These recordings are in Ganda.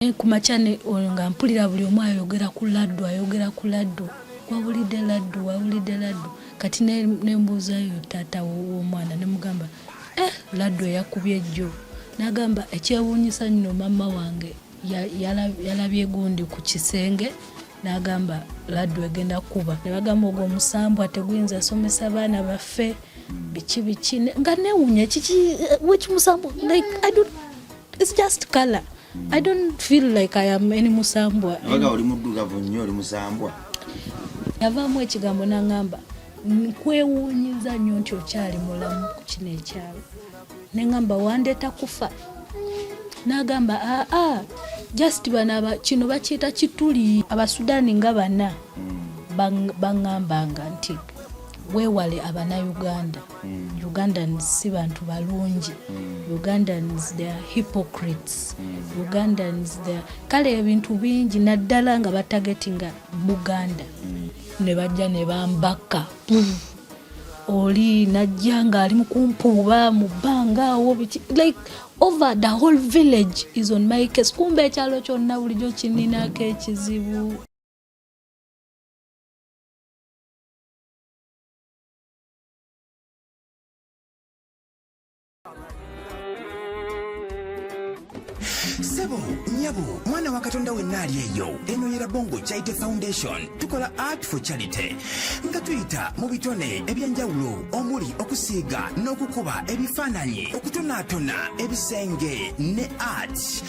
naye ku makya oyo nga mpulira buli omu ayogera ku laddu ayogera ku laddu wawulidde laddu wawulidde laddu kati nembuuzayo taata w'omwana nemugamba eh, laddu eyakubye ejjo nagamba ekyewuunyisa nno maama wange yalabye gundi ku kisenge nagamba laddu egenda kuba nebagamba ogwo omusambwa teguyinza somesa baana baffe biki biki nga newunya kiki wekimusambu like i don't It's just color. I don't feel like I am any musambwa. Abaga oli muddugavu nnyo oli musambwa. Yavaamu ekigambo n'angamba nkwewuunyiza nnyo nti okyali mulamu ku kino ekyalo. Ne ngamba wandeeta kufa. N'agamba aa ah, ah, just bano kino bakiyita kituli. Abasudaani nga bana hmm. bangambanga nti weewale abana Uganda. mm. ugandans si bantu balungi mm. ugandans theyare hypocrites mm. ugandans theyare kale ebintu bingi naddala nga batagetinga buganda mm. ne bajja ne bambaka mm. oli najja ng'ali mu kumpuuba mu bbanga awo biki like over the whole village is on my case kumba ekyalo kyonna bulijjo kininako ekizibu sebo nyabo mwana wa katonda wenna ali eyo eno yera bongo charity foundation tukola art for charity nga tuyita mu bitone ebyenjawulo omuli okusiiga n'okukuba ebifaananyi okutonaatona ebisenge ne art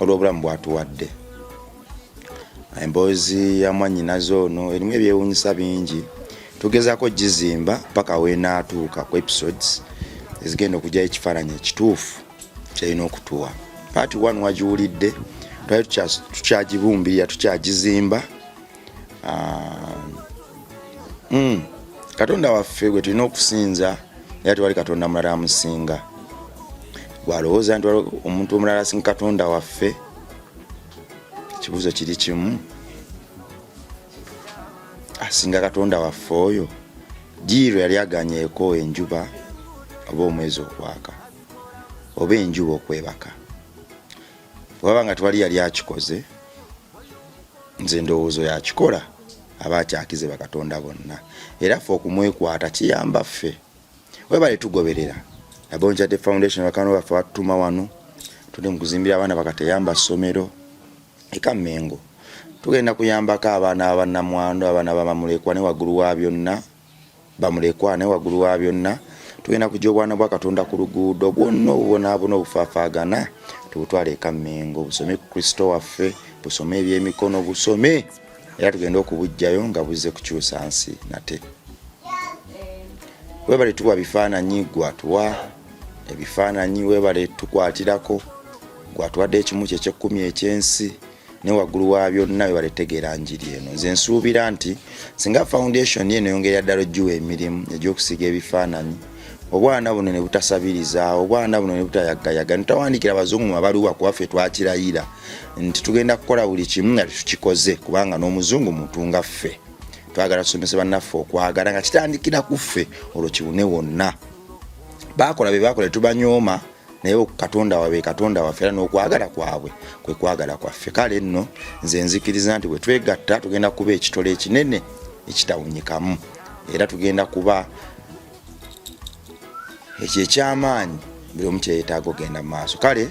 olw'obulamu bwatuwadde emboozi ya mwanyinaze ono erimu ebyewunyisa bingi tugezaako gizimba paka wenaatuuka ku episodes ezigenda okugyayo ekifaananyi ekituufu kyalina okutuwa paati one wagiwulidde twali tukyagibumbirira tukyagizimba ah, mm, katonda waffe gwe tulina okusinza era tewali katonda mulala amusinga gwalowooza nti omuntu omulala asinga katonda waffe ekibuuzo kiri kimu asinga katonda waffe oyo jiiro yali aganyeeko enjuba oba omwezi okwaka oba enjuba okwebaka waba nga twali yali akikoze nze ndowoozo yakikola aba akyakize bakatonda bonna era fe okumwekwata kiyamba ffe webale tugoberera abonjade foundation bakano baffe batutuma wano tuli mukuzimbira abaana bakateyamba ssomero eka mengo tugenda kuyambako abaana abanamwandu abaana bamamulekwa ne waggulu wa byonna bamulekwa ne waggulu wa byonna tugenda kujja obwana bwa katonda ku luguudo bwonna obubonaabona obufaafaagana tubutwale eka mmengo busome ku kristo waffe busome ebyemikono busome era tugenda okubujjayo nga buzze kukyusa nsi nate webale tuwa bifaananyi gwatuwa ebifaananyi webale tukwatirako gwatuwadde ekimu kyekyekumi ekyensi ne waggulu wa byonna webale tegeera njiri eno nze nsuubira nti singa foundation eno yongera ddala ogiwa emirimu egyokusiga ebifaananyi obwana buno ne butasabiriza obwana buno ne butayagayaga nitawandikira abazungu mu mabaluwa kuwaffe twakirayira nti tugenda kukola buli kimu nga tetukikoze kubanga n'omuzungu mutunga ffe twagala tusomese bannaffe okwagala nga kitandikira ku ffe olwo kiwune wonna baakola bye baakola tetubanyooma naye katonda wabe katonda waffe era n'okwagala kwabwe kwe kwagala kwaffe kale nno nze nzikiriza nti bwe twegatta tugenda kuba ekitole ekinene ekitawunyikamu era tugenda kuba ekyo ekyamaanyi buli omu kyeyetaaga ogenda mu maaso kale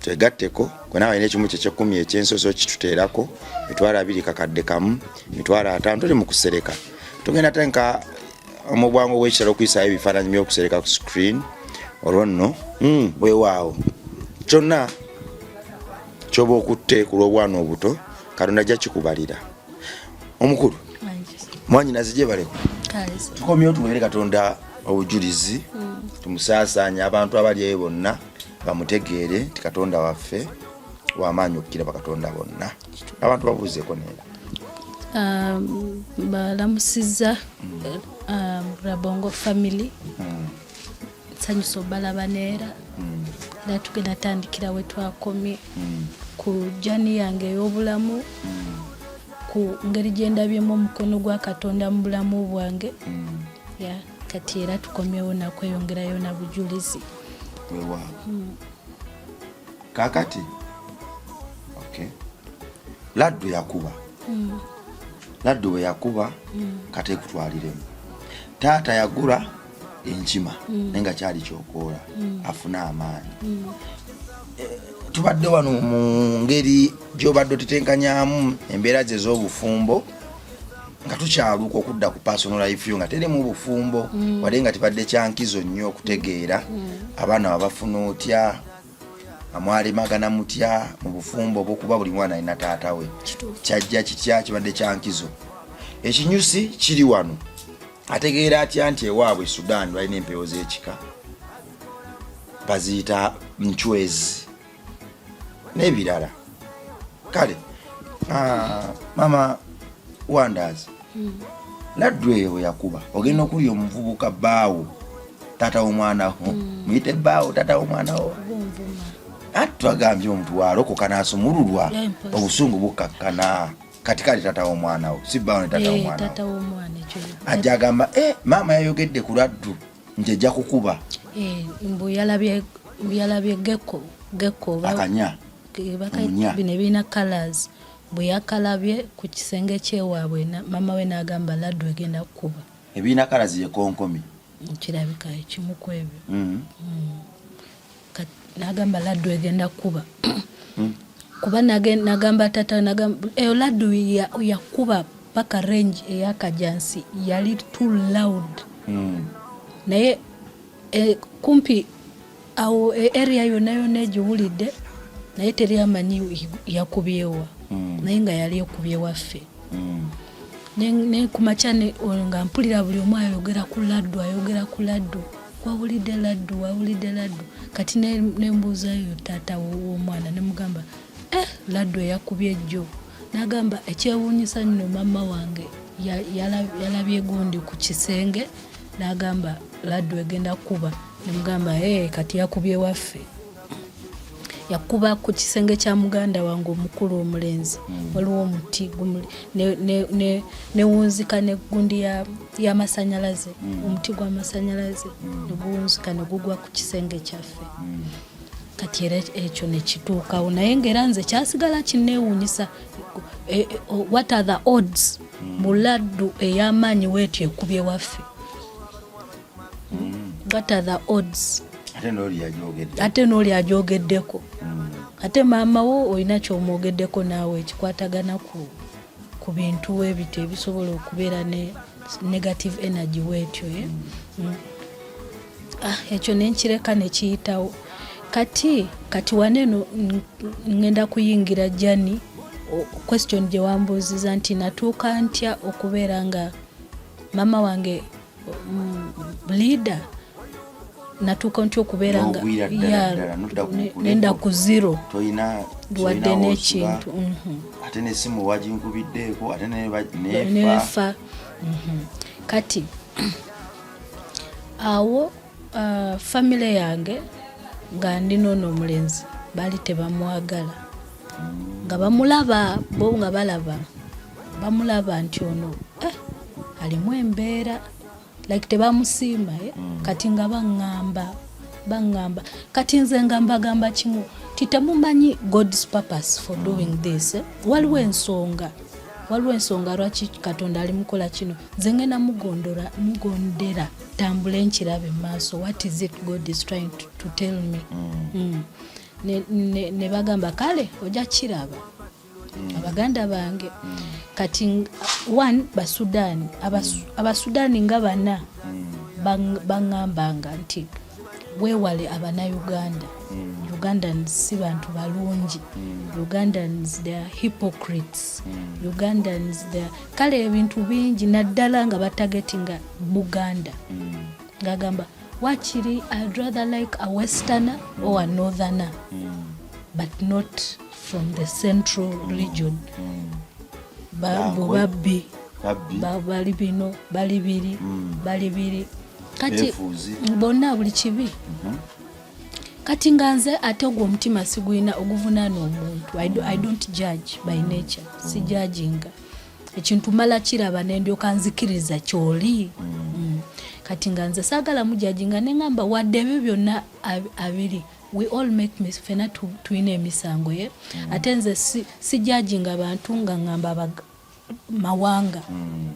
twegatteko kwenaaba alina ekimu kyekyekumi ekyensoso kituteerako mitwalo abiri kakadde kamu mitwalo ataano tuli mu kusereka tugenda tenka omubwangu bwekitalo okuyisaayo ebifaananyi byokusereka ku screen olwo nno hmm. wewaawo kyonna kyoba okutte ku lw'obwana obuto katonda ajja kikubalira omukulu mwanyinazi gyebaleko tukomyewo tuwere katonda obujulizi hmm. tumusaasaanye abantu abali eyo bonna bamutegeere nti katonda waffe wamaanyi okukira bakatonda bonna abantu babuuzeko naye um, balamusizza um, rabongo family hmm. nsanyusa obalaba neera hmm. era tugenda tandikira we twakomye hmm. ku jani yange ey'obulamu ku ngeri gye ndabyemu omukono gwa katonda mu bulamu bwange kati era tukomyewo nakweyongerayo na bujulizi kakati okay. laddu yakuba mm. laddu we yakuba mm. kati ekutwaliremu taata yagula enkima mm. naye nga kyali kyokoola mm. afune amaanyi mm. eh, tubadde wano mu ngeri gyobadde otetenkanyamu embeera ze ez'obufumbo nga tukyaluuka okudda ku personal life yo nga terimu bufumbo mm. wade nga tibadde kyankizo nnyo okutegeera mm. abaana wabafuna otya amwalemagana mutya mu bufumbo obwokuba buli mwana alina taata we kyajja kitya kibadde kyankizo ekinyusi kiri wano ategeera atya nti ewaabwe sudan balina empewo z'ekika baziyita ncwezi n'ebirala kale ah, mama wanders hmm. laddu eyo bweyakuba ogenda okulya omuvubuka baawo tata womwanawo hmm. muyite baawo tata womwanawo ati twagambye omuntu walokoka nasumululwa obusungu bukakkana kati kale tata womwana wo si bawo ne tata eh, womwana ajja agamba eh, maama yayogedde ku laddu nti ejja kukuba eh, mbu yalabye gekko gekko akanya bino ebirina colors bwe yakalabye ku kisenge kyewaabwe mama we n'agamba laddu egenda kukuba ebirina colors ye konkomi kirabika ekimu ku ebyo mm-hmm. mm. n'agamba laddu egenda kukuba mm. kuba nagamba tata eyo laddu yakuba paka range eyakajansi yali too loud mm. naye e, kumpi awo e, area yona yona egiwulidde naye teri amanyi yakubyewa mm. naye nga yali ekubye waffe mm. ne ku makya nga mpulira buli omu ayogera ku laddu ayogera ku laddu wawulidde laddu wawulidde laddu kati nembuuzayo taata w'omwana nemugamba eh, laddu eyakubye ejjo nagamba ekyewuunyisa nno maama wange yalabye gundi ku kisenge n'agamba laddu egenda kukuba nemugamba ee kati yakubye waffe yakuba ku kisenge kya muganda wange omukulu omulenzi hmm. waliwo omuti newunzika negundi yamasanyalaze hmm. omuti gwamasanyalaze hmm. neguwunzika negugwa ku kisenge kyaffe kati era ekyo nekituukawo naye ngaera nze kyasigala kinneewuunyisa e, e, what are the odds mu laddu ey'amaanyi weetyo ekubye waffe what are the odds ate n'oli agyogeddeko ate maama wo olina kyomwogeddeko naawe ekikwatagana ku ku bintu webiti ebisobola okubeera ne negative energy wetyo eh? mm. ah, ekyo nenkireka nekiyitawo kati kati waneno ngenda kuyingira jani question gyewambuuziza nti natuuka ntya okubeera nga mama wange mm, leader natuuka ntya okubeera nga nenda ku zero wadde n'ekintu mhm. ate nesimu waginkubiddeeko ate nefa mhm. kati awo Uh, famile yange nga ndi noono omulenzi baali tebamwagala nga bamulaba bo nga balaba bamulaba nti ono eh, alimu embeera like tebamusiima eh? mm. kati nga baŋŋamba baŋŋamba kati nze nga mbagamba kimu ti temumanyi god's purpose for mm. doing this eh? waliwo ensonga waliwo ensonga lwaki katonda ali mukola kino nze ngenda mugondera tambule nkirabe mu maaso what is it god is trying to, to tell me mm. Mm. ne, ne, ne bagamba kale ojja kiraba mm. abaganda bange mm. kati one basudani abasudani mm. nga bana mm. baŋambanga bang, nti wewale abanauganda mm. ugandans si bantu balungi mm. ugandans the hypocrites mm. ugandans the kale ebintu bingi naddala nga batagetinga buganda mm. ngagamba wakiri i'd rather like a westerner or a northerner mm. but not from the central region mm. bo babbi bali bino bali biri bali biri kati bonna buli kibi mm-hmm. kati nga nze ate ogwo omutima sigulina oguvunaana omuntu i don't judge by nature sijajinga ekintu mala kiraba nendyoka nzikiriza kyoli mm. kati nga nze saagala mujajinga neŋamba wadde ebyo byonna abiri we all make mis fena tulina emisango ye mm. ate nze sijajinga bantu nga ŋamba mawanga mm.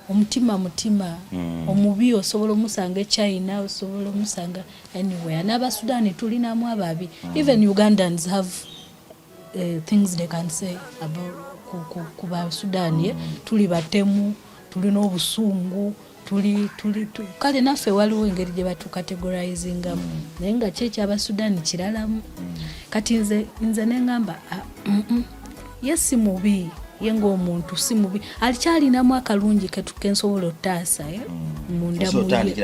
omutima mutima mm. omubi osobola omusanga echina osobola omusanga anywhere n'abasudani tulinamu ababi mm. even ugandans have uh, things they can say about ku, ku, ku basudani eh? mm. tuli batemu tulina obusungu tuli tuli kale naffe waliwo engeri gye batukategorizingamu mm. naye nga kyo ekyaba sudani kiralamu mm. kati nze nze nengamba ah, mm, mm. ye si mubi ye ngaomuntu si mubi alikyalinamu akalungi ketukensobola otaasa eh? mm. mundamuye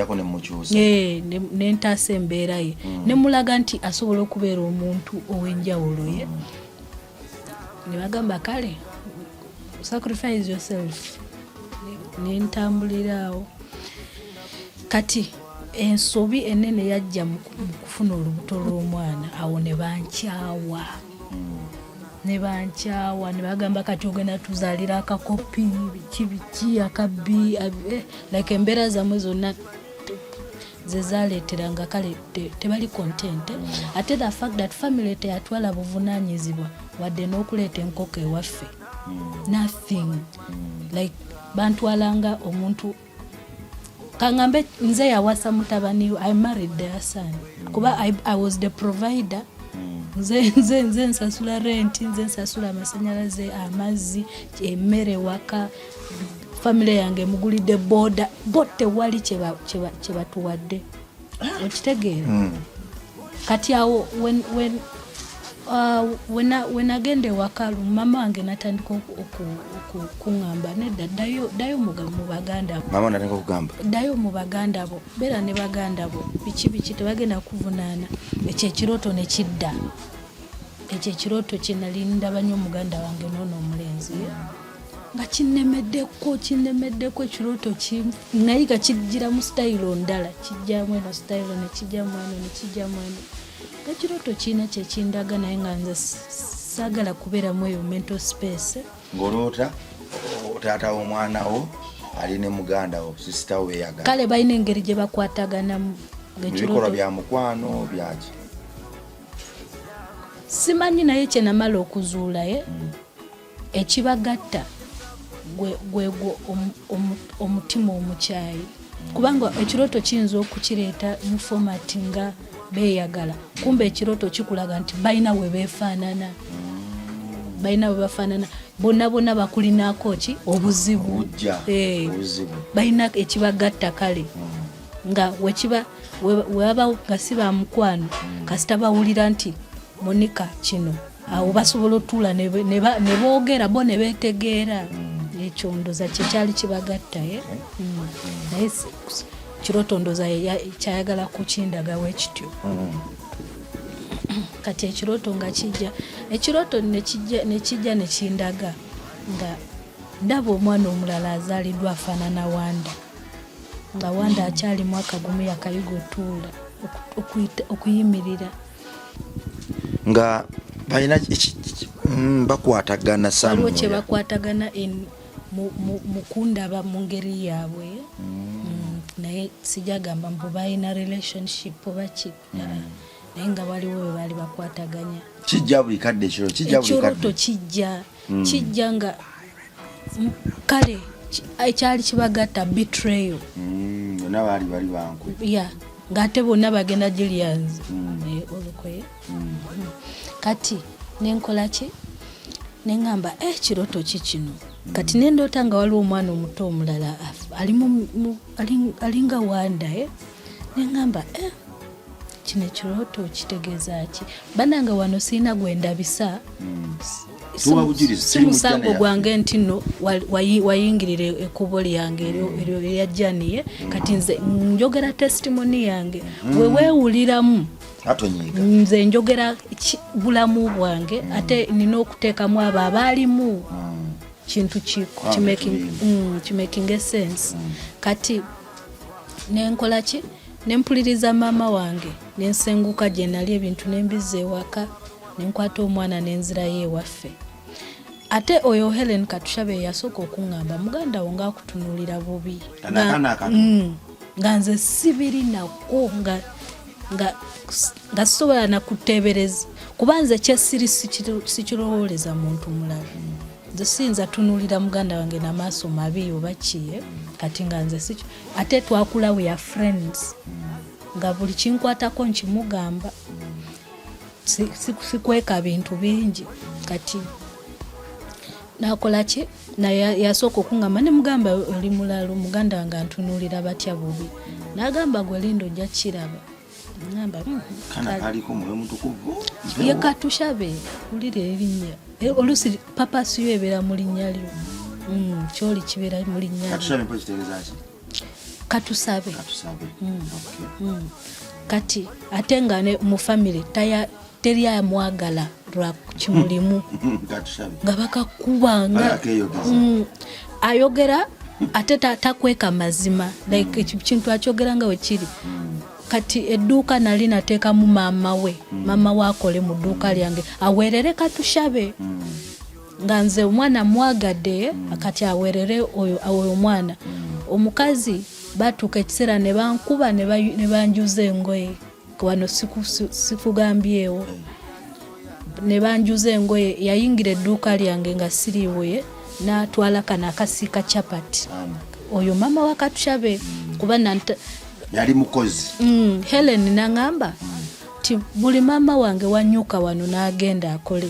eh, nentaasa embeera ye mm. nemulaga nti asobola okubeera omuntu ow'enjawulo ye mm. nebagamba kale sacrifice yourself nentambuliraawo kati ensobi enene yajja mu kufuna olubuto lw'omwana awo ne bankyawa ne bankyawa ne bagamba kati ogenda tuzaalira akakopi biki biki akabbi eh, like embeera zamwe zonna zezaleteranga kale tebali content ate the fact that family teyatwala buvunanyizibwa wadde n'okuleeta enkoko ewaffe hmm. nothing hmm. like bantwalanga omuntu kangambe nze yawasa mutabani i married their son hmm. kuba I, i was the provider nze nze nsasula renti nze nsasula amasanyalaze amazzi emmere waka famire yange emugulidde boda bo tewali kyebatuwadde ah. okitegeera hmm. kati awo wenagenda uh, ewaka mama wange natandika okuŋamba nedda ddayo mubaganda ddayo mu baganda bo beera ne baganda bo biki biki tebagenda kuvunaana ekyo ekirooto ne kidda ekyo ekirooto kyenali ndaba nyo omuganda wange noona omulenzi nga kinnemeddeko kinnemeddeko ekirooto kimu naye nga kijjiramu sitayiro ndala kijjamu eno sitayiro nekijjamu eno nekijjamu eno nga kirooto kiina kyekindaga naye nga nze saagala kubeeramu eyo mental space ng'oloota otaata w'omwana wo ali ne muganda wo sisita wo beyagala kale balina engeri gye bakwataganamu ebikolwa bya mukwano byaki simanyi naye kyenamala okuzuulaye eh? mm. ekibagatta gwegwo omutima omukyayi kubanga ekirooto kiyinza okukireeta mu format nga beyagala kumba ekirooto kikulaga nti balina we befaanana balina we bafaanana bonna bonna bakulinaako ki obuzibu eh, balina ekibagatta kale hmm. nga wekiba webabawo nga si bamukwano hmm. kasita bawulira nti Monica kino awo basobola otuula ne boogera bo ne beetegeera mm. ekyo ndoza kye kyali kibagatta ye eh? mm. mm. naye kiroto ndoza kyayagala kukindagawo ekityo kati ekiroto nga kijja ekiroto nekijja nekindaga nga ndaba omwana omulala azaliddwa afaanana wanda nga wanda akyali mwaka gumu yakayiga otuula okuyimirira nga balina mm, bakwatagana kyebakwatagana mukundaba mu ngeri yaabwe mm. mm, naye sijagamba mbu balina relationship oba ki naye nga waliwo webaali bakwataganya kijja buli kadde ekiro kijja buli kadde ekiro tokijja mm. kijja nga kale ekyali kibagatta betrayo mm, bona baali bali bankwe ya ng'ate bonna bagenda julians mm. eh, olukoye mm. kati nenkola ki neŋamba e eh, kiroto ki kino kati nendoota nga waliwo omwana omuto omulala alinga wanda neŋamba e kino ekirooto kitegeeza ki banange wano siina gwe ndabisa hmm. simusango gwange nti no wayingirira ekubo lyange eryajjaniye hmm. kati nze njogera testimoni yange hmm. wewewuliramu nze njogera bulamu bwange ate nina okuteekamu abo abaalimu kintu kimakinga esense kati nenkola ki nempuliriza maama wange nensenguka gye nali ebintu nembizza ewaka nenkwata omwana nenzirayo ewaffe ate oyo helen katushabe yasooka okuŋŋamba muganda wo ngaakutunuulira bubi mm. nga nze sibiri nako nga nga sisobola nakuteebereza kuba nze kyesiri sikirowooleza muntu mulala nze siyinza tunuulira muganda wange namaaso mabi oba kiye kati nga nze sikyo ate twakula we are friends nga buli kinkwatako nkimugamba sikweka bintu bingi kati nakolaki naye yasooka okungamba ne mugamba oli mulalu muganda wange antunuulira batya bubi nagamba gwe linda ojja kukiraba ye katushabe wulira erinnya eh, oluusi papa siyo ebeera mu linnya lyo mm, kyoli kibeera mu linnya katusabe mm, mm. kati ate nga mu famire teri amwagala lwa kimulimu nga bakakubanga mm. ayogera ate takweka mazima like mm. kintu akyogera nga wekiri mm. kati edduuka nali nateekamu maama we maama we akole mu dduuka lyange aweerere katushabe nga nze omwana mwagadde kati aweerere oyo omwana omukazi batuuka ekiseera ne bankuba ne banjuza engoye wano sikugambyewo ne banjuza engoye yayingira edduuka lyange nga siriibuye natwala kano akasiika chapati oyo maama wa katushabe mm. kuba yali mukozi mm, helen nangamba mm. ti buli maama wange wanyuka wano nagenda akole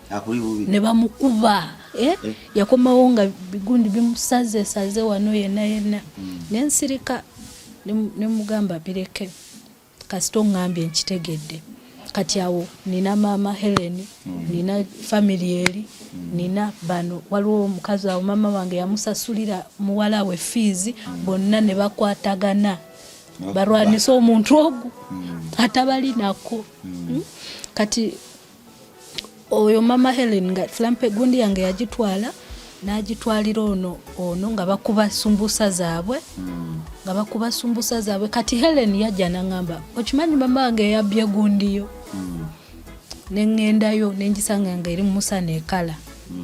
ne bamukuba eh? eh? yakomawo nga bigundi bimusaze saze wano yena yena mm. nensirika nemugamba bireke kasita ongambye nkitegedde kati awo nina maama helen mm. nina famiry eri mm. nina bano waliwo omukazi awo maama wange yamusasulira muwala we fiizi mm. bonna ne bakwatagana balwanisa omuntu ogu mm. atabalinako mm. mm? kati oyo mama helen nga flampe gundi yange yagitwala n'agitwalira ono ono nga bakuba sumbusa zaabwe nga bakuba sumbusa zaabwe kati helen yajja naŋamba okimanyi mama wange eyabbye gundiyo neŋŋendayo nengisanga nga eri mumusana ekala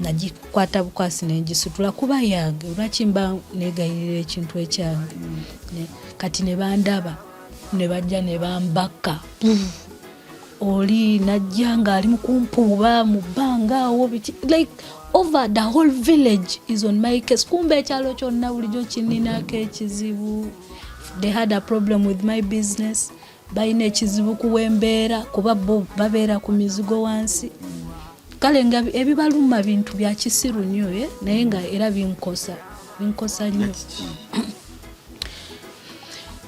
nagikwata bukwasi nengisitula kuba yange olwaki mba negayirira ekintu ekyange kati nebandaba nebajja nebambakka oli najja ng'ali mu kumpuuba mu bbanga awo biki like over the whole village is on my case kumba ekyalo kyonna bulijjo kininako ekizibu they had a problem with my business balina ekizibu kuwa embeera kuba bo babeera ku mizigo wansi kale nga ebibaluma bintu bya kisiru nnyo eh? naye nga era binkosa binkosa nnyo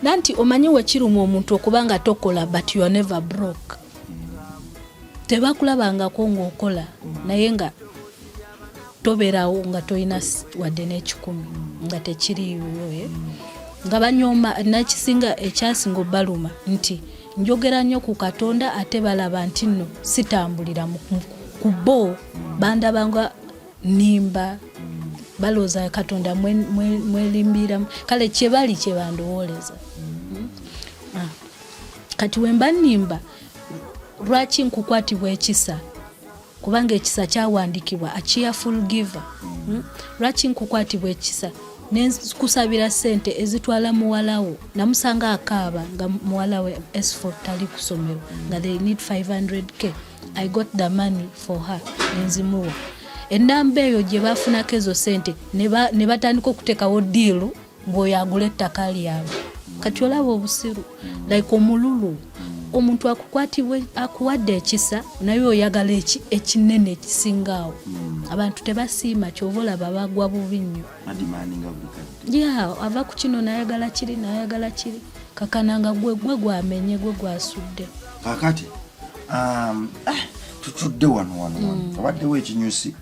nanti omanyi wekiruma omuntu okuba nga tokola but you are never broke tebakulabangako ngaokola naye nga tobeerawo nga tolina wadde n'ekikumi nga tekiriiwo eh? nga banyooma nakisinga ekyasinga obaluma nti njogera nnyo ku katonda ate balaba nti nno sitambulira ku bo bandabanga nimba balowooza katonda mwelimbiramu kale kyebali kyebandowooleza hmm? ah. kati wemba nimba lwaki nkukwatibwa ekisa kubanga ekisa kyawandikibwa a cheerful giver hmm? lwaki nkukwatibwa ekisa nenkusabira sente ezitwala muwalawo namusanga akaaba nga muwalawe esfo tali kusomero nga they need 500k i got the money for her nenzimuwa enamba eyo gyebafunako ezo sente nebatandika okutekawo diilu mbu oyo agula ettaka lyabwe kati olaba obusiru like omululu omuntu akukwatibwa akuwadde ekisa naye oyagala eki ekinene ekisinga awo hmm. abantu tebasiima kyova olaba bagwa bubi nnyo ya ava ku kino nayagala kiri nayagala kiri kakana nga gwe gwe gwamenye gwe gwasudde kakati um, eh, tutudde wano wano wano hmm. abaddewo ekinyusi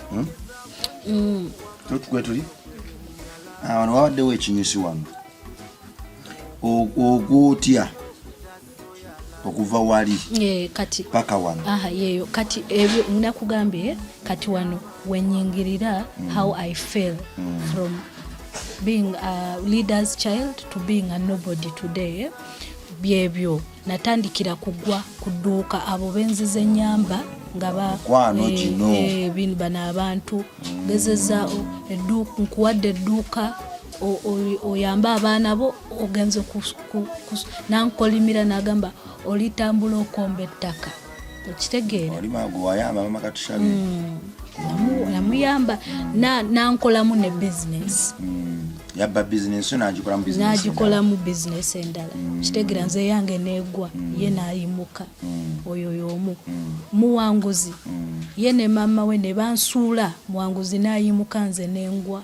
hmm? mm. totugwe tuli wano wabaddewo ekinyusi wano ogwotya okuva wali kati paka wano aha yeyo kati ebyo nakugambye kati wano wenyingirira mm. how i feel mm. from being a leader's child to being a nobody today byebyo natandikira kugwa ku dduuka abo benzize nyamba nga eh, eh, bano abantu gezeza nkuwadde edduuka oyambe abaana bo ogenze nankolimira nagamba olitambula okomba ettaka okitegeera yamuyamba mm. nankolamu ne bizinesi mm. yabba bizinesi nagikolamu nagikolamu bizinesi endala mm. kitegera nze yange negwa ye nayimuka oyo yomu muwanguzi ye ne maama we ne bansuula muwanguzi nayimuka nze nengwa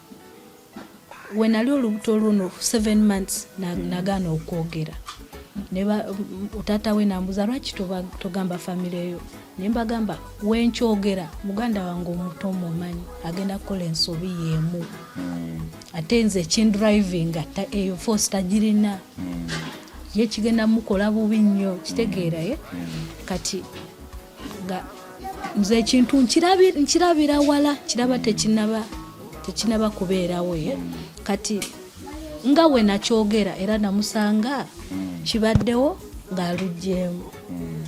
wenali olubuto luno seven months mm. nagaana okwogera taata we nambuza lwaki togamba famire yo nembagamba wenkyogera muganda wange omuto omumanyi agenda kukola ensobi yemu mm. ate nze kindriving eyo force tagirina mm. ye kigenda mukola bubi nnyo kitegeeraye kati nze ekintu nkirabira wala kiraba tekinaba tekinaba kubeerawo ye kati nga we nakyogera era namusanga mm. kibaddewo ng'aluggyemu mm.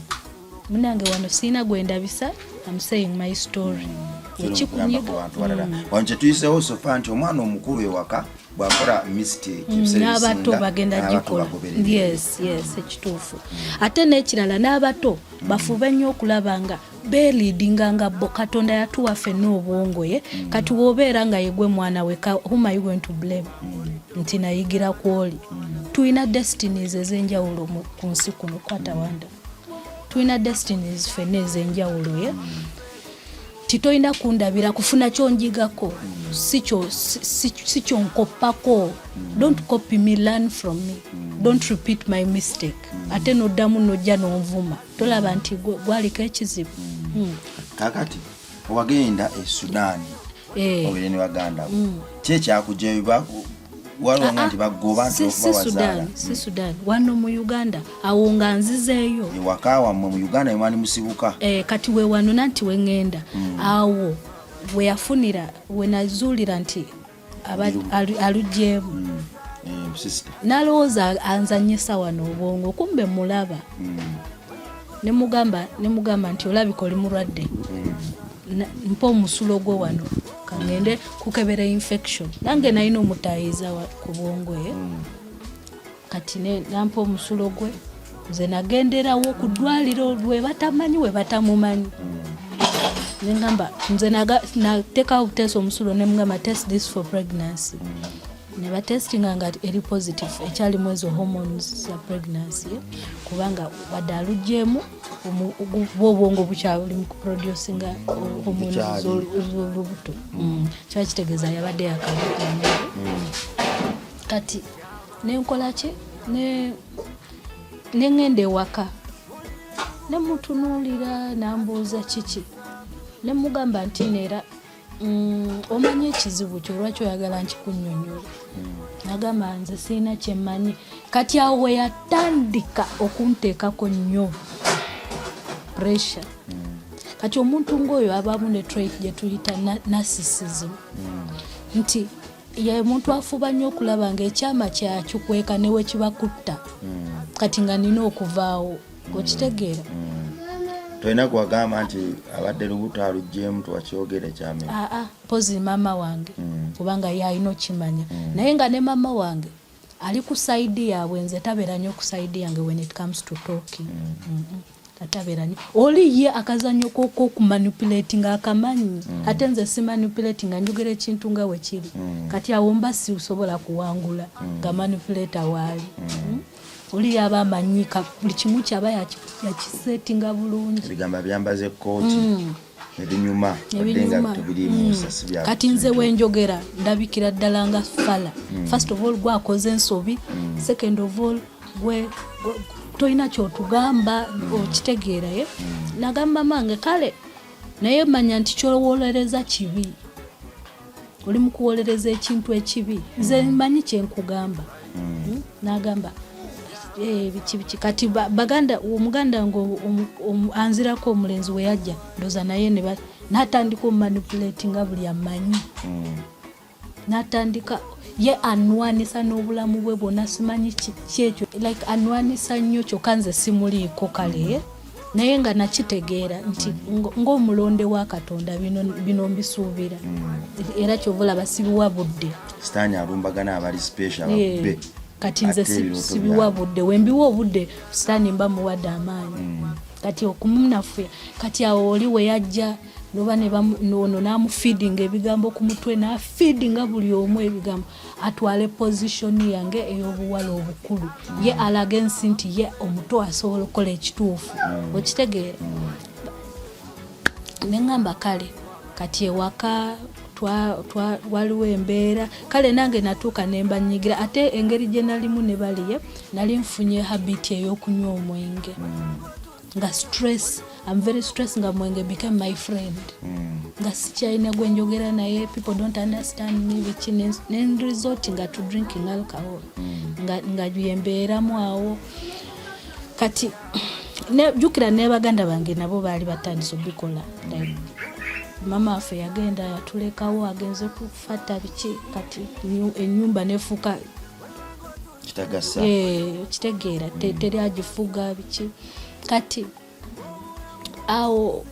munange wano siina gwendabisa am saying my story mm. ekikunyigawano kyetuyiseewo sofa nti omwana omukulu ewaka bwakola mistake mm, n'abato bagenda gikola yes yes ekituufu mm. ate n'ekirala n'abato mm. bafube nnyo okulaba nga beliidinga nga bo katonda yatuwa fenna obwongo ye mm. kati wobeera nga yegwe mwana we huma you going to blame mm. nti nayigira kwoli mm. tulina destinies ezenjawulo ku nsi kuno kwatawanda mm. tulina destinies fenna ezenjawulo ye mm. titolina kundabira kufuna kyonjigako si kyonkoppako don't copy me learn from me don't repeat my mistake ate noddamu nojja nonvuma tolaba nti gwaliko ekizibu hmm. kakati wagenda e sudan eh. obere ne baganda bo hmm. kyekyakujeba waliwo nga ah, ah. nti bagoba nti okubawazaala si hmm. sudan wano mu uganda awo nga nzizeeyo ewaka wammwe mu uganda wemwali musibuka eh, kati we wano nanti we ŋŋenda hmm. awo we yafunira we nazuulira nti alugyemu hmm. eh, nalowooza anzanyisa wano obwongo kumbe mulaba nemugamba nemugamba nti olabika oli mulwadde mpa omusulo gwo wano kangende kukebera infection nange nalina omutayiza ku bwongo ye eh? mm. kati nampa omusulo gwe nze nagenderawo ku ddwaliro lwebatamanyi webatamumanyi mm. nengamba nze nateka obutesa omusulo nemugamba test this for pregnancy mm. nebatestinga nga eri positive ekyalimu ezo hormones za pregnancy kubanga wadde alugyemu obwongo bukyali mu kuproducinga homoni z'olubuto mm. kiba kitegeeza yabadde yakalukana mm. kati nenkola ki nengenda ewaka nemutunuulira nambuuza kiki nemugamba nti neera Mm, omanyi ekizibu kyo lwaki oyagala nkikunnyonyola mm. nagamba nze sirina kyemmanyi kati awo weyatandika okunteekako nnyo pressure mm. kati omuntu ngaoyo abamu ne trait gyetuyita narcissism nti ye muntu afuba nnyo okulaba nga ekyama kyakikweka newekibakutta kati nga nina okuvaawo okitegeera mm. tolina kuwagamba nti abadde lubuto aluggyemu tuwakyogere kyame aa ah, ah, pozi maama wange mm. kubanga ye alina okimanya mm. naye nga ne maama wange ali ku saidi yaabwe nze tabeera nyo ku saidi yange when it comes to talking atabeera nyo oli ye akazanyo kokokumanipulatinga akamanyi ate nze simanipulatinga njogera ekintu nga wekiri kati awo mba siusobola kuwangula nga manipulata waali mm. mm. oli yaba amanyika buli kimu kyaba yakisetinga bulungi ebigamba byambaze kooti mm. ebinyuma ebinyuma mm. kati nze wenjogera ndabikira ddala nga fala mm. first of all gwakoze ensobi mm. second of all gwe tolina kyotugamba mm. okitegeera ye mm. nagamba mange kale naye manya nti kyowolereza kibi oli mukuwolereza ekintu ekibi nze mm. manyi kyenkugamba mm. hmm? nagamba eh, bikibiki kati baganda omuganda nga anzirako omulenzi weyajja ndoza naye natandika omumanipulati nga buli amanyi mm. natandika ye anwanisa n'obulamu bwe bwona simanyi kyekyo like anwanisa nnyo kyokka nze simuliiko kale naye nga nakitegeera nti ng'omulonde wa katonda bino mbisuubira mm. era kyova olaba sibiwa budde sitaani alumbagana abali special ababbe kati nze sibiwa budde wembiwa obudde sitaani mba muwadde amaanyi mm. kati okumunafuya kati awo oli weyajja noba ono namufeedinga ebigambo ku mutwe nafeedinga buli omu ebigambo atwale position yange ey'obuwala obukulu ye mm. alaga ensi nti ye omuto asobola okukola ekituufu mm. okitegeera mm. neŋamba kale kati ewaka waliwo embeera kale nange natuuka nembanyigira ate engeri gye nalimu ne baliye nali nfunye habiti ey'okunywa omwenge nga stress am very stress nga mwenge became my friend mm. nga sikyalina gwe njogera naye people don't understand me biki nenresort nga to drinking alcohol mm. nga, nga yembeeramu awo kati jukira ne baganda bange nabo baali batandise obikola like mama waffe yagenda yatulekawo agenze kufata biki kati enyumba nefuuka kitagasa eh, okitegeera mm. teri agifuga biki kati awo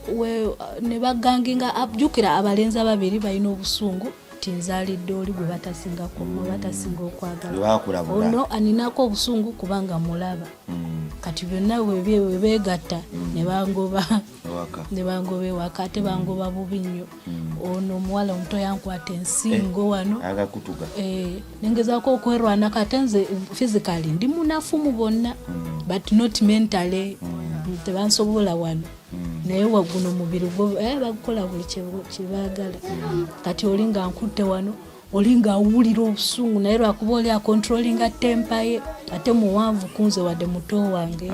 ne baganginga jjukira abalenzi ababiri balina obusungu nti nzalidde oli gwe batasinga kuma mm. batasinga okwagala ono aninako obusungu kubanga mulaba mm. kati byonna webeegatta ne bangoba ne bangoba ewaka ate bangoba bubi nnyo hmm. ono omuwala omuto yankwata ensingo eh, wano eh, nengezaako okwerwanako ate nze physically ndi munafu mu bonna hmm. but not mentally hmm. tebansobola wano naye waguno omubiri gwo eh, bagukola buli kyebagala kati oli nga nkutte wano oli ng'awulira obusungu naye lwakuba oli akontrolinga tempa ye ate muwanvu kunze wadde muto wange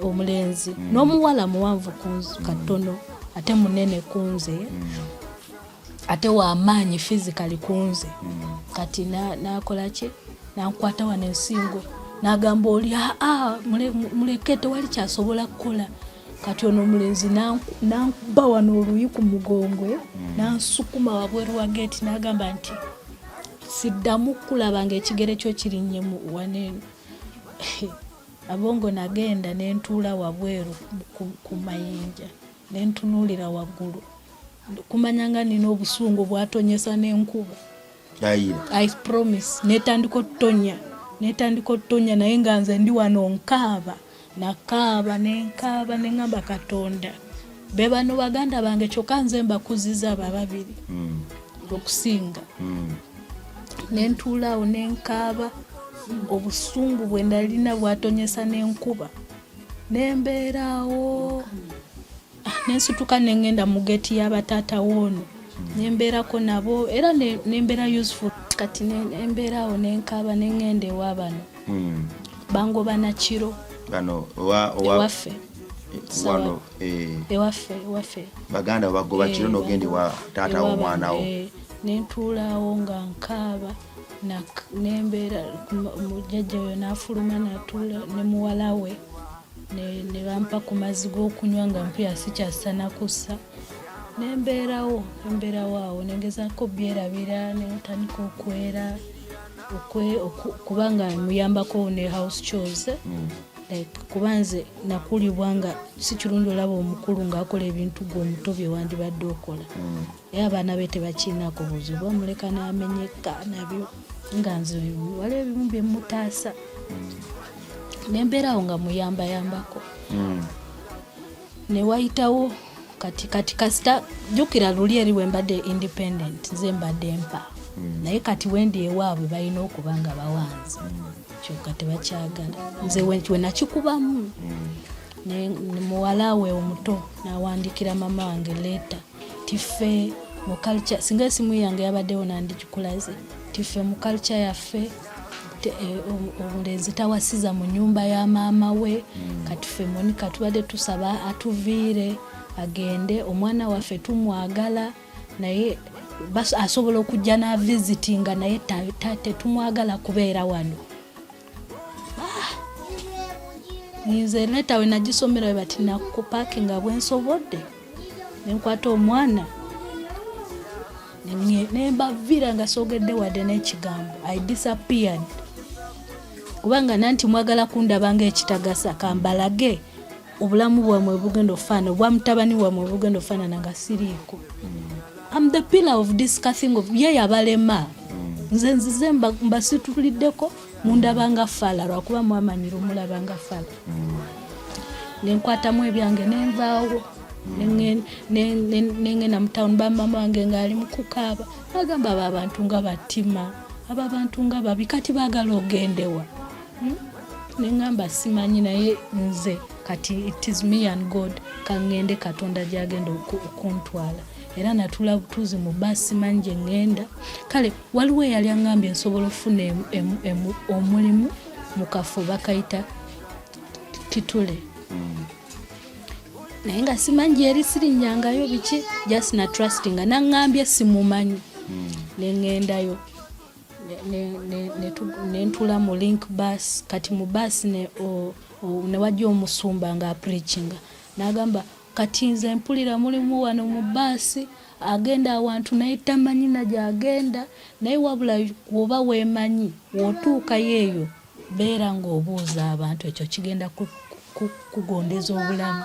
omulenzi mm. n'omuwala muwanvu kunze mm. katono ate munene kunze mm. ate wamaanyi fizikali kunze kati nakola ki nankwata wano ensingo nagamba oli aa muleke tewali kyasobola kukola kati ono omulenzi nankuba wano oluyi ku mugongo eh? hmm. nansukuma wabweru wa geeti nagamba nti siddamu kulaba nga ekigere kyo kirinnye mu waneeno abongo nagenda nentuula wabweru ku mayinja nentunuulira waggulu kumanya nga nina obusungu bwatonyesa n'enkuba i promise netandika otutonya netandika otutonya naye nga nze ndi wano nkaaba nakaaba nenkaaba neŋamba katonda be bano baganda bange kyokka nze mbakuziza abo ababiri hmm. okusinga hmm. nentuulaawo nenkaaba obusungu bwe nalina bwatonyesa nenkuba nembeeraawo nensituka nengenda mu geti yabatata woono nembeerako nabo era nembeera useful kati embeeraawo nenkaaba nengenda ewabano hmm. bangoba nakiro ewaffe wano eh. ewaffe ewaffe baganda bagoba kiro eh, nogenda ewa taata womwanawo eh, nentuulaawo nga nkaaba nembeera mujjajja oyo nafuluma natuula nemuwalawe ne bampa ku mazzi g'okunywa nga mpulira sikyassa na kussa ne mbeerawo embeerawo awo ne ngezaako byerabira ne ntandika okwera kubanga muyambako ne house chores mm. like kuba nze nakulibwa nga si kirungi olaba omukulu ng'akola ebintu gwe omuto bye wandibadde okola mm. naye abaana be tebakiinaku buzibu bamuleka n'amenyeka nabyo nga nze waliwo ebimu bye mmutaasa nembeerawo nga muyambayambako hmm. ne wayitawo kati kati kasita jjukira luli eri wembadde independent nze mbadde mpa hmm. naye kati wendi ewaabwe balina okuba nga bawanzi hmm. kyoka tebakyagala nze wenakikubamu muwala we omuto nawandikira mama wange leeta tiffe mu culture singa esimu yange yabaddewo nandigikulaze tiffe mu culture yaffe Eh, omulenzi tawasiza mu nyumba ya maama we hmm. kati fe monika tubadde tusaba atuviire agende omwana waffe tumwagala naye asobola okujja n'avisitinga naye tetumwagala kubeera wano nze leta we nagisomera we bati nakupaki nga bwensobodde nenkwata omwana nembavira nga sogedde wadde n'ekigambo i disappeared kubanga nanti mwagala kundaba nga ekitagasa kambalage obulamu bwamwe bugenda okufaanana obwa mutabani wamwe bugenda okufaanana nga siriiko am the pillar of discussing of ye yabalema nze nzize mbasituliddeko mundaba nga faala lwakuba mwamanyira omulaba nga faala nenkwatamu ebyange nenvaawo nengenda mu tawuni bamama wange ngaali mukukaaba agamba abo abantu nga batima abo abantu nga babi kati baagala ogendewa hmm? nengamba simanyi naye nze kati it is me and god kangende katonda gyagenda okuntwala era natula butuuzi mu baasi manyi gye ŋŋenda kale waliwo eyali aŋŋambye nsobola okufuna omulimu mu kafo bakayita kitule hmm. naye nga simanyi gyeri sirinnyangayo biki just na trustinga naŋŋambye simumanyi hmm. ne ŋŋendayo nentula mu link bus kati mu bus newajja omusumba nga apreachinga nagamba kati nze mpulira mulimu wano mu baasi agenda awantu naye tamanyi nagyagenda naye wabula woba wemanyi wotuukayo eyo beera ngaobuuza abantu ekyo kigenda kugondeza obulamu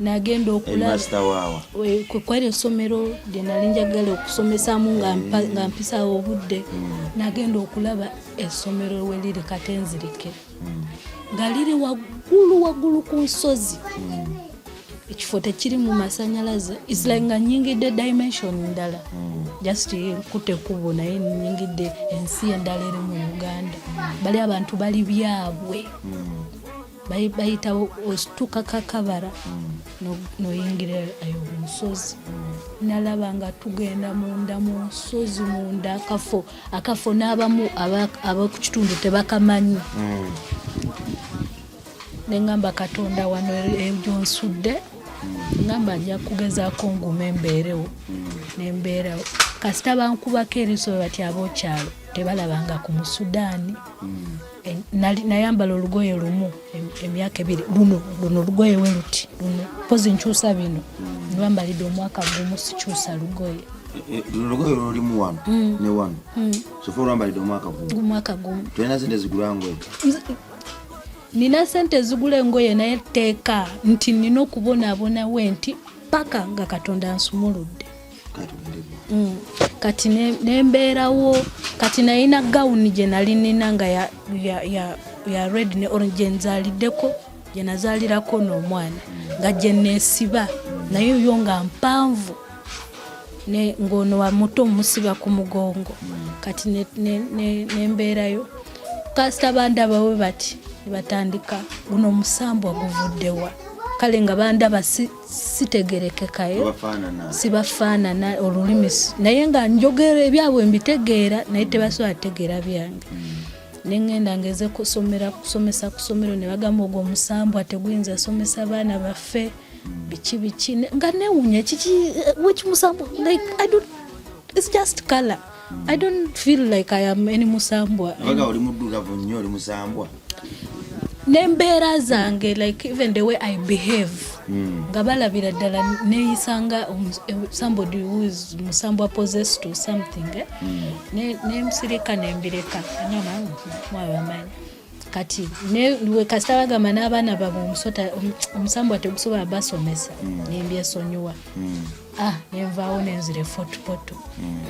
nagenda okulakwali essomero lye nali njagala okusomesamu nga mm. mpisawo obudde mm. nagenda okulaba essomero weliri katenzirike mm. nga liri waggulu waggulu ku nsozi ekifo tekirimu masanyalaze isla nga nyingidde dimension ndala just nkute kubo naye nyingidde ensi endala eri mu uganda bali abantu bali byabwe bayita osituka kakabara noyingira ayo omusozi nalaba nga tugenda munda mu nsozi munda akafo akafo n'abamu abakukitundu tebakamanyi mm. nengamba katonda wano egyonsudde ngamba nja kugezaako ngume embeerewo nembeerawo kasita bankubako eriso bati abokyalo tebalabanga ku musudaani mm. Eh, nayambala olugoye lumu emyaka ebiri luno luno olugoye we luti luno mpozi nkyusa bino lwambalidde omwaka gumu sikyusa lugoye eh, eh, lugoye lwolimu wano mm. ne wano mm. sofa olwambalidde omwaka gumumwaka gumu tolina sente zigula ngoye nina sente ezigula engoye naye teeka nti nina okubonabonawe nti paka nga katonda nsumuludde Mm. kati nembeerawo kati nayina gawuni gye nali nina nga ya, ya, ya, ya red ne orange gye nzaliddeko gye nazaalirako n'omwana nga gye neesiba naye yo nga mpanvu ng'ono wa muto omusiba ku mugongo kati nembeerayo ne, ne kasita bandaba we bati batandika guno omusambwa guvuddewa kale nga bandaba sitegerekekayo sibafaanana olulimi naye nga njogera ebyabwe mbitegeera naye tebasobola tegeera byange hmm. nengenda ngeze kusomera kusomesa kusomero nebagamba ogwo omusambwa teguyinza somesa abaana baffe hmm. biki biki nga newunya kiki eh, wekimusambwa like i don't it's just color I don't feel like I am any musambwa. Abaga oli muddugavu nnyo oli musambwa. N'embeera zange like even the way I behave hmm. nga balabira ddala neeyisa nga eh, somebody who is musambwa possessed to something eh? mm. ne, ne msirika nembireka nyama mwawe amanya kati newe kasita bagamba n'abaana babwe omusota omusambwa tegusobola basomesa mm. nembyesonyiwa mm. ah, nenvaawo nenzira efotopoto mm.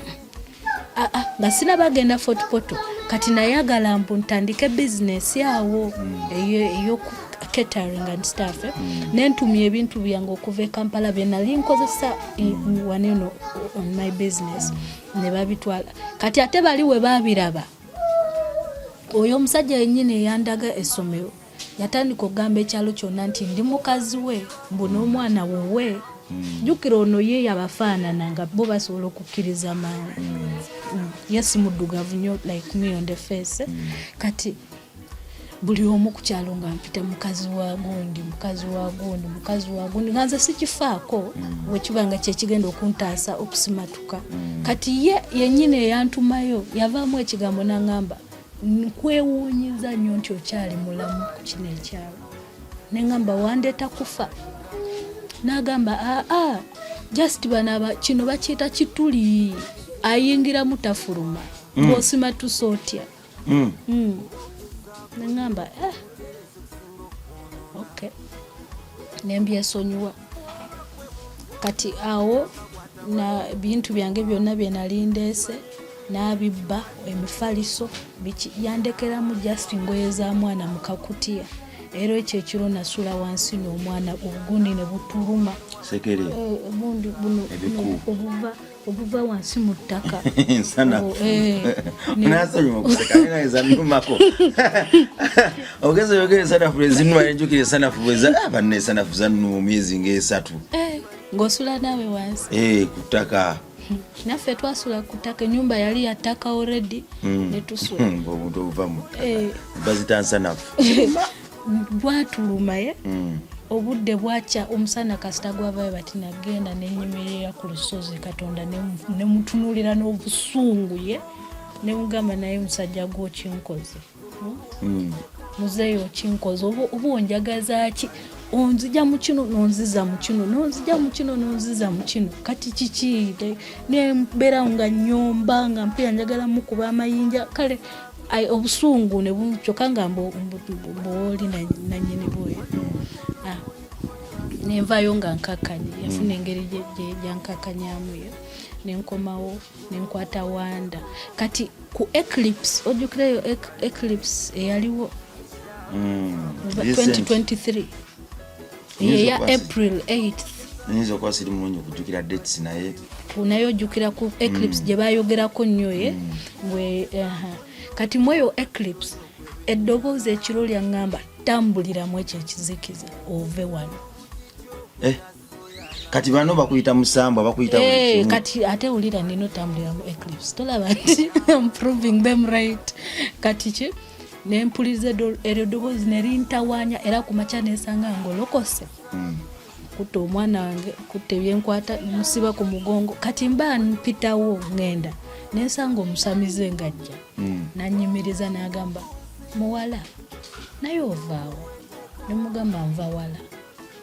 ah, ah, nga sina bagenda fotopoto kati nayagala mbu ntandike bizinesi awo eyokuketering and staff eh? nentumya ebintu byange okuva e kampala byenali nkozesa eh, waneno on my business nebabitwala kati ate bali we babiraba oyo omusajja yennyini eyandaga essomero yatandika okugamba ekyalo kyonna nti ndi mukazi we mbu n'omwana wuwe hmm. jjukira ono ye yabafaanana nga bo basobola okukkiriza mangu hmm. hmm. ye simuddugavu nyo like me on the face kati buli omu ku kyalo nga mpita mukazi wa gundi mukazi wa gundi mukazi wa gundi nga nze sikifaako mm. wekiba nga kyekigenda okuntaasa okusimatuka mm. kati ye yenyini eyantumayo yavaamu ekigambo nangamba nkwewuunyiza nnyo nti okyali mulamu ku kino ekyalo nengamba wandeeta kufa nagamba aa ah, ah, just banaba kino bakiyita kituli ayingiramu tafuluma mm. ng'osimatusa otya mm. mm. nengamba eh. okay. nembyesonyiwa kati awo na bintu byange byonna byenali ndeese n'abibba emifaliso biki yandekeramu just ngoye za mwana mu kakutiya era ekyo ekiro nasula wansi n'omwana obugundi ne butuluma eh, bundi buno obuva obuva wansi mu ttaka oh, eh, nasonyiwa okuseka naye zanumako ogeza oyogera esanafu lwezinuma nenjukira esanafu bweza ah, banna esanafu zanuma emyezi ngaesatu eh, ng'osula naawe wansi eh, ku ttaka naffe twasula ku ttaka enyumba yali ya ttaka oredi hmm. netusula hmm, obuntu obuva mu ttaka bazita nsanafu gwatuluma ye hmm. obudde bwakya omusana kasita gwavayo bati nagenda nenyimirira ku lusozi katonda nemutunulira n'obusungu ye nemugamba naye musajja gwe okinkoze hmm? hmm. muzeeyi okinkoze oba onjagazaki onzija mukino nonziza mukino nonzija mukino nonziza mukino kati kiki nembeera nga nyomba nga mpira njagala mukuba amayinja kale Ai, obusungu ne bu kyokka nga mboli nanyini bwoyo ah, nenvayo nga nkakkanye yafuna mm. engeri gyankakkanyamuyo nenkomawo nenkwata wanda kati ku eclipse ojjukirayo eclipse eyaliwo 2023 mm. eya april 8 nyinza okuba siri mulungi okujukira dates naye naye ojukira ku eclips mm. gye bayogerako nnyo ye eh? mm. kati mweyo eclips eddoboozi ekiro lyaŋŋamba tambuliramu ekyo ekizikiza ove wano eh. kati bano bakuyita musambwa bakuyita hey, eh, kati ate wulira nina otambulira mu eclipse tolaba nti am proving them right kati ki nempuliriza eryo ddoboozi nerintawanya era ku makya nesanga nga olokose mm. kutta omwana wange kutta ebyenkwata musiba ku mugongo kati mba mpitawo ngenda nensanga omusamize ngajja mm. nanyimiriza nagamba muwala naye ovaawo nemugamba nvawala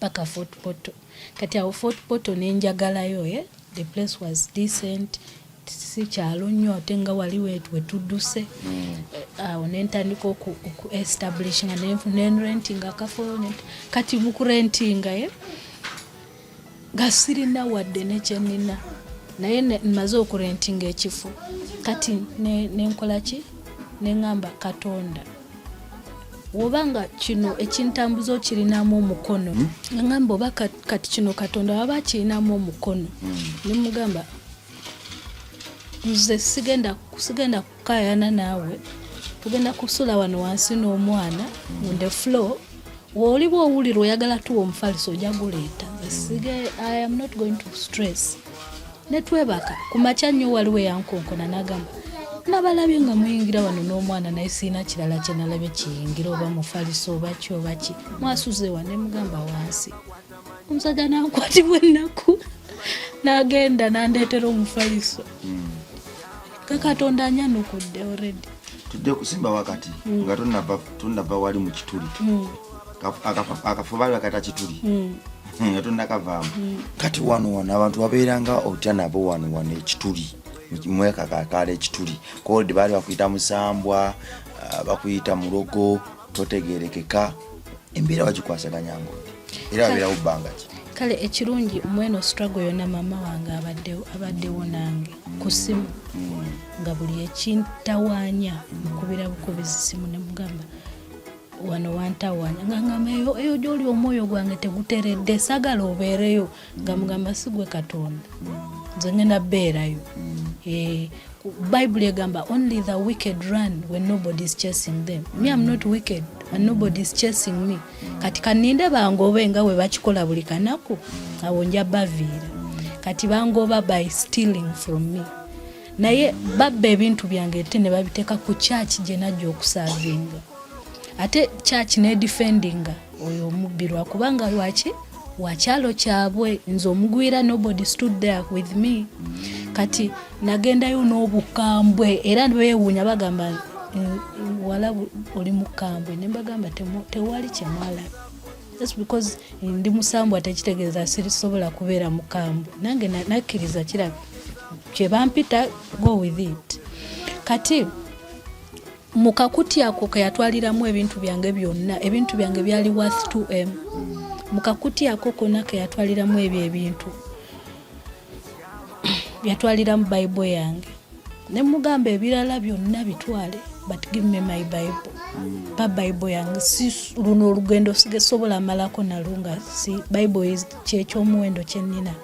paka fort portal kati awo fort portal nenjagalayo eh? the place was decent si kyalo nnyo ate nga wali wetudduse hmm. eh, awo nentandika okuestablishinga nenrentinga akafo kati mukurentinga ye eh? nga sirina wadde nekyenina naye maze okurentinga ekifo kati nenkolaki ne neŋamba katonda woba nga kino ekintambuza okirinamu omukono hmm? ngamba oba kati kino katonda waba akirinamu omukono hmm. nemugamba nze sigenda sigenda kukayana naawe tugenda kusula wano wansi n'omwana hmm. on the floor woliba owulira oyagala tuwa omufaliso ojaguleeta nze sige i am not going to stress ne twebaka ku makya nnyo waliwo eyankonkona n'agamba nabalabye nga muyingira wano n'omwana naye sirina kirala kye nalabye kiyingira oba mufaliso oba ki oba ki mwasuze wa ne mugamba wansi omusajja nankwatibwa ennaku n'agenda n'andeetera omufaliso hmm. ke katonda anyanukudde already tujja kusimba wakati hmm. nga tunava wali mu kituli hmm. akafubalwa kata kituli hmm. hmm, nga tonakavaamu hmm. kati wano wano abantu babeeranga otya nabo wano wano ekituli mweka kakala ekituli kodi baali bakuyita musambwa ah, bakuyita mulogo totegerekeka embeera bagikwasaganya ngodi era babeerawo bbanga ki kale ekirungi mweno struggle yona maama wange abaddewo nange ku simu nga buli ekintawanya mukubira bukubizi simu nemugamba wano wantawanya nga ngamba eyo gyoli omwoyo gwange teguteredde sagala obeereyo nga mugamba sigwe katonda nze ngenda beerayo eh, bible egamba only the wicked run when nobody is chasing them me am not wicked and nobody is chasing me kati kaninde bangobe nga we bakikola buli kanaku awo nja baviira kati bangoba by stealing from me naye babba ebintu byange ate ne babiteeka ku kyaki gye najja okusaavinga ate kyaki nedifendinga oyo omubbi lwakubanga lwaki wakyalo kyabwe nze omugwira nobody stood there with me kati nagendayo n'obukambwe era bewuunya bagamba eh, wala oli mukambwe nembagamba tewali kyemwalaba just because ndi musambwa tekitegeeza sirisobola kubeera mukambwe nange nakkiriza kiraba kyebampita go with it kati mu kakuti ako keyatwaliramu ebintu byange byonna ebintu byange byali worth 2m mu kakuti ako konna keyatwaliramu ebyo ebintu yatwaliramu bayibuli yange ne mugamba ebirala byonna bitwale but give me my bible pa bible yange si luno olugendo sigesobola malako nalo nga si bible kyekyomuwendo kyenina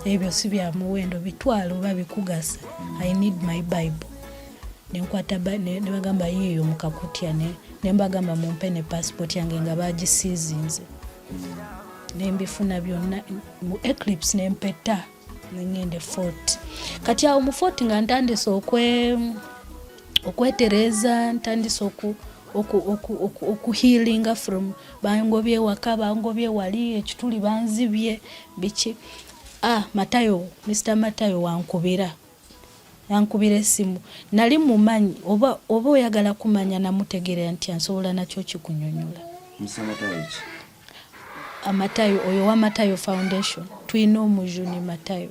ebyo si bya muwendo bitwale oba bikugasa i need my bible nenkwata nebagamba yiyo mukakutya nembagamba mumpe ne passport yange nga bagisizinze nembifuna byonna mu eclipse nempeta nengende fort kati awo mu fort nga ntandise okwe okwetereza ntandise oku okuhilinga from bangobye waka bangobye wali ekituli banzibye biki ah matayo mr matayo wankubira yankubira esimu nali mumanyi oba oba oyagala kumanya namutegeera nti ansobola nakyo kikunyonyola mr matayo ki amatayo oyo wa matayo foundation tulina omujuni matayo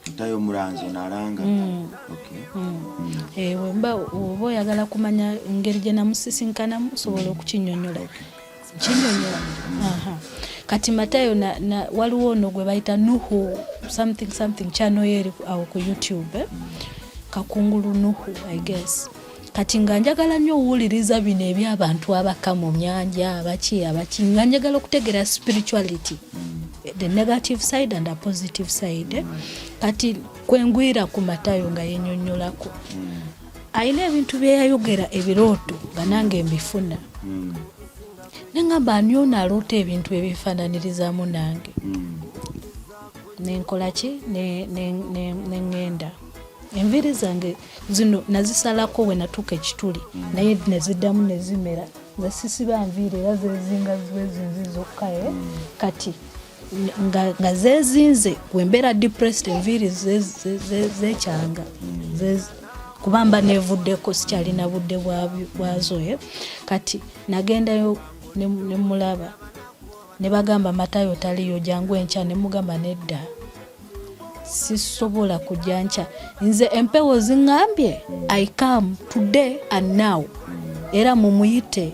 matayo mulanzi onalanga mm. okay. mm. mm. ewe eh, mba oba oyagala kumanya ngeri gye namusisinkanamu osobola mm. okukinyonyola okay. kinyonyola mm. kati matayo na, na, waliwo ono gwe bayita nuhu something something chano yeri awo ku youtube eh? mm. kakungulu nuhu i guess kati nga njagala nnyo owuliriza bino ebyabantu abaka mu nyanja abaki abaki nga njagala okutegeera spirituality the negative side and a positive side kati kwengwira ku matayo nga yenyonyolako alina ebintu byeyayogera ebirooto nga nange mbifuna nengamba ani ono aloota ebintu ebifananirizamu nange nenkolaki nengenda enviiri zange ne, ne, ne, ne, ne, ne, ne, ne, ne, ne, ne, zino nazisalako we natuuka ekituli mm. naye neziddamu nezimera nze sisiba nviiri era zezinga ziwezinzi zokka e eh? mm. kati nga zezinze wembeera depressed enviiri zekyanga mm. kuba mba nevuddeko sikyalina budde bwazo eh? kati nagendayo nemulaba ne bagamba matayo taliyo jangu enkya ne mugamba nedda sisobola kujja nkya nze empewo zingambye i come today and now era mumuyite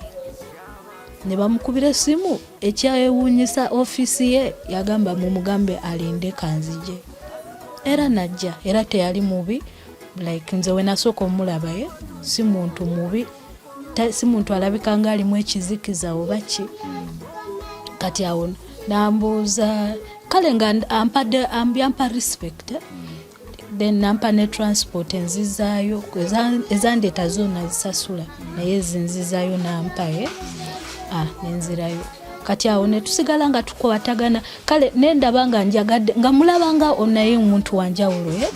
ne bamukubira esimu ekyayewuunyisa ofiisi ye yagamba mumugambe alinde kanzije era najja era teyali mubi like nze wenasooka omulabaye si muntu mubi si muntu alabika nga alimu ekizikiza oba ki kati awo nambuuza kale nga ampadde yampa respect then nampa ne transport enzizaayo ezandeeta zona zisasula naye ezinzizaayo nampaye ah, nenzirayo kati awo netusigala nga tukwatagana kale nendaba nga njagadde nga mulaba nga onaye omuntu wanjawulo eh?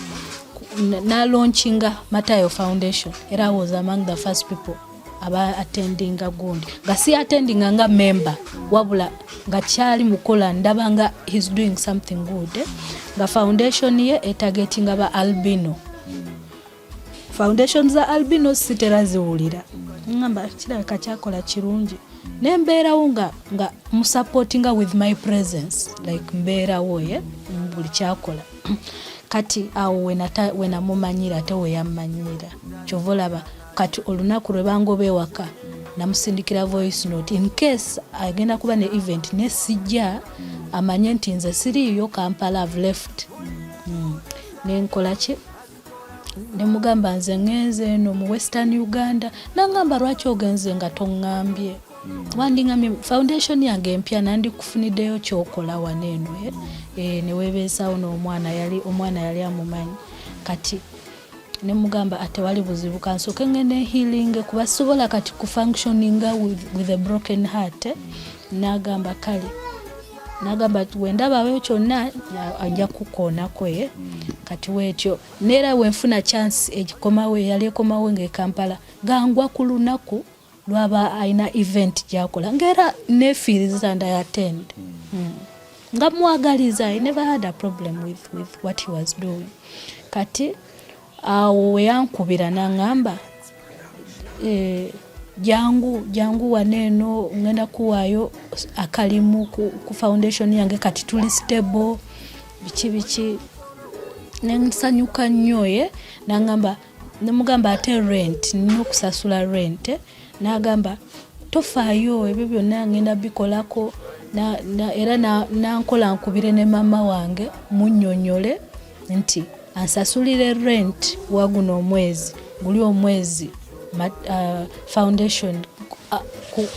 nalonchinga matayo foundation era I was among the first people aba attendinga gundi nga si attendinga nga member wabula nga kyali mukola ndaba nga he's doing something good eh? nga foundation ye etagetinga ba albino foundation za albino sitera ziwulira ngamba kirabika kyakola kirungi nembeerawo nga nga musupportinga with my presence like mbeerawo ye eh? buli kyakola kati awo wenamumanyira ate weyammanyira kyova olaba kati olunaku lwe bangoba ewaka namusindikira voice note in case agenda kuba ne event ne sijja amanye nti nze siriiyo kampala have left mm. nenkolaki nemugamba nze ngenze eno mu western uganda nangamba lwaki ogenze nga tongambye wandingambye foundation yange empya nandikufuniddeyo kyokola wano eno eh? eh, newebeesawo nomwana yali omwana yali amumanyi kati nemugamba atewali ah, buzibu kansoke ngende healing kuba sobola kati kufunctioninga with, with a broken heart eh? n'agamba kale nagamba nti wendabawo kyonna ajja kukoonako ye kati weetyo neera wenfuna chance egikomawo eyali ekomawo ngaekampala gangwa ku lunaku lwaba alina event gyakola ngaera nefiiriza ndi attend hmm. nga mwagaliza i never had a problem with, with what he was doing kati awo weyankubira nangamba eh, jangu jangu wano eno ngenda kuwaayo akalimu ku, ku foundation yange kati tuli stable biki biki nensanyuka nnyo ye nangamba nemugamba ate rent nina okusasula rent n'agamba tofaayo ebyo byonna ngenda bikolako era nankola nkubire ne maama wange munyonyole nti ansasulire rent waguno omwezi guli omwezi uh, foundation uh,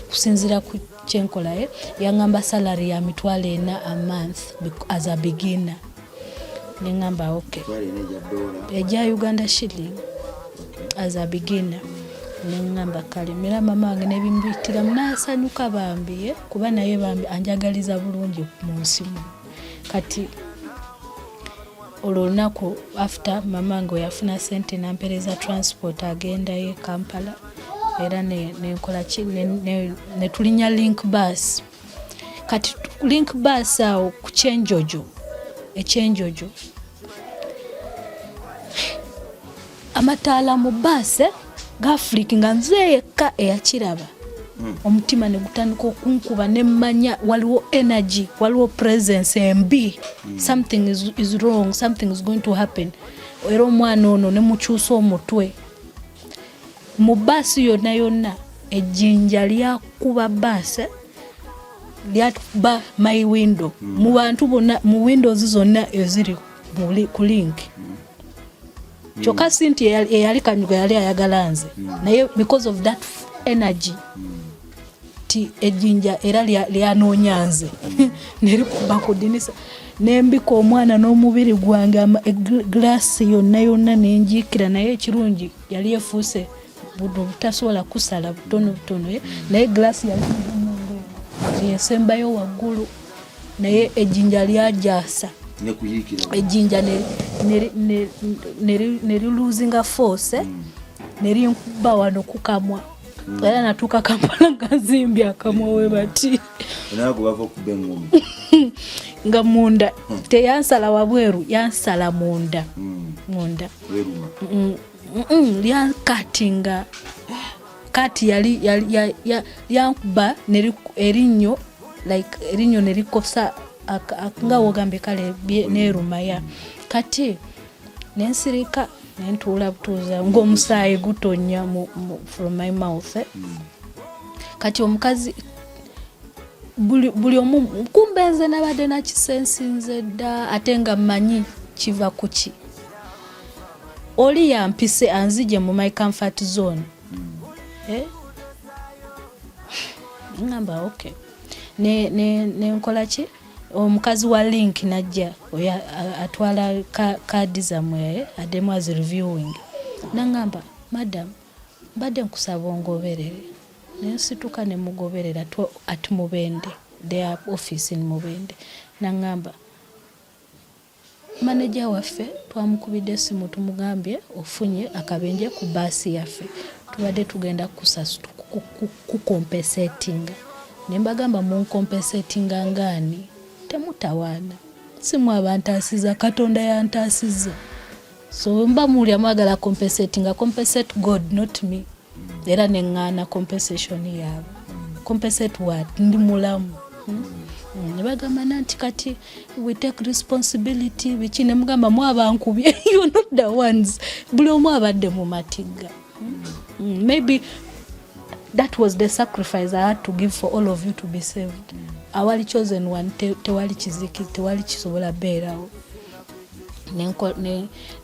kusinzira ku kyenkolaye yangamba salary ya mitwalo ena a month as a beginner nengamba ok eja uganda shilling as a beginner nengamba kale mera mama wange nebimbitiramu nasanyuka bambi eh, kuba naye bambi anjagaliza bulungi mu nsimu kati olwo olunaku after mama nga oyafuna sente nampereza transport agendayo e kampala era nenkolaki netulinya link bus kati link bus awo ku kyenjojo ekyenjojo amataala mu baasi eh, gafuliki nga nze yekka eyakiraba hmm. omutima ne gutandika okunkuba ne mmanya waliwo energy waliwo presence embi hmm. something is, is wrong something is going to happen era omwana ono ne mukyusa omutwe mu baasi yonna yonna ejjinja lyakuba baasi eh, lyakuba my window hmm. mu bantu bonna mu windows zonna eziri ku link mm. kyokka si nti eyali kanyuga yali ayagala nze mm. naye because of that energy mm. ti ejinja era lyanoonya nze mm. nerikuba ku dinisa nembika omwana n'omubiri gwange e, glass yonna yonna nenjiikira naye ekirungi yali efuuse buno butasobola kusala butono butono eh? naye glass yali yesembayo waggulu naye ejjinja lyajasa ejjinja neriluzinga force eh? mm. nerinkuba wano kukamwa mm. era natuuka kampala gazimbye akamwa we bati nga munda hmm. teyansala wabweru yansala munda hmm. munda lyankati nga kati yali lyankuba erinnyo like erinnyo nerikosa nga wogambye kale nerumaya kati nensirika nentuula butuuza ngaomusaayi gutonya from my mouth eh? mm. kati omukazi buli omu kumbe nze nabadde nakisensinze dda ate nga mmanyi kiva kuki oli yampise anzije mu my comfort zone hmm. eh? ngamba okay ne ne ne nkola ki omukazi wa link najja oyo atwala kaadi zamwe eh, ademu as reviewing nangamba madam mbadde nkusaba ongoberere nensituka nemugoberera at mubende their office in mubende nangamba Maneja waffe twamukubidde essimu tumugambye ofunye akabenje ku baasi yaffe tubadde tugenda kukompesetinga ne mbagamba munkompesetinga ngaani temutawaana si mwe abantaasiza katonda yantaasiza. so mba muwulira mwagala compensate nga compensate god not me era neŋŋaana compensation yaabwe compensate wat ndi mulamu hmm? hmm, nebagamba nanti kati we take responsibility biki nemugamba mwabankubye you not the ones buli omu abadde mu matigga hmm? maybe that was the sacrifice i had to give for all of you to be saved awali chosen one tewali kiziki tewali kisobola beerawo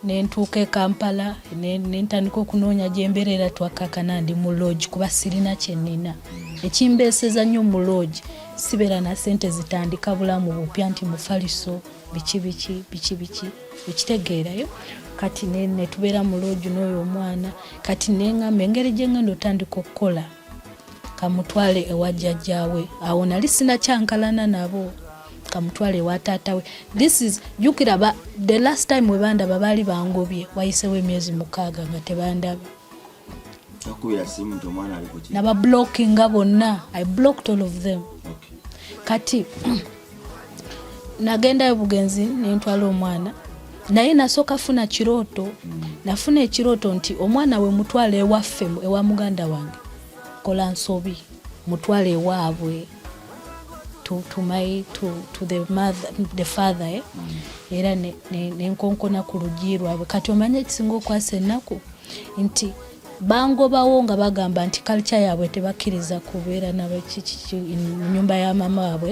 nentuuka e kampala nentandika okunoonya gyembeera era twakakana ndi mu loogi kuba sirina kyenina ekimbeeseza nnyo mu loogi sibeera na sente zitandika bulamu bupya nti mufaliso biki biki biki biki ekitegeerayo kati netubeera mu loogi n'oyo omwana kati nengamba engeri gyengenda otandika okukola kamutwale ewa jjajjaawe awo nali sinakyankalana nabo kamutwale ewa taatawe this is jukira ba the last time webandaba baali bangobye wayisewo emyezi mukaaga nga tebandaba nabablockinga bonna i blocked all of them okay. kati nagendayo bugenzi nentwala omwana naye nasooka funa kirooto nafuna ekirooto nti omwana we mutwala ewaffe ewa muganda wange kola nsobi mutwala ewaabwe to, to my to, to the mother the father eh? mm. era nenkonkona ne, ne ku lugi lwabwe kati omanye ekisinga okwasa ennaku nti bangobawo nga bagamba nti kalca yaabwe tebakkiriza kubeera nabakiki nyumba ya mama waabwe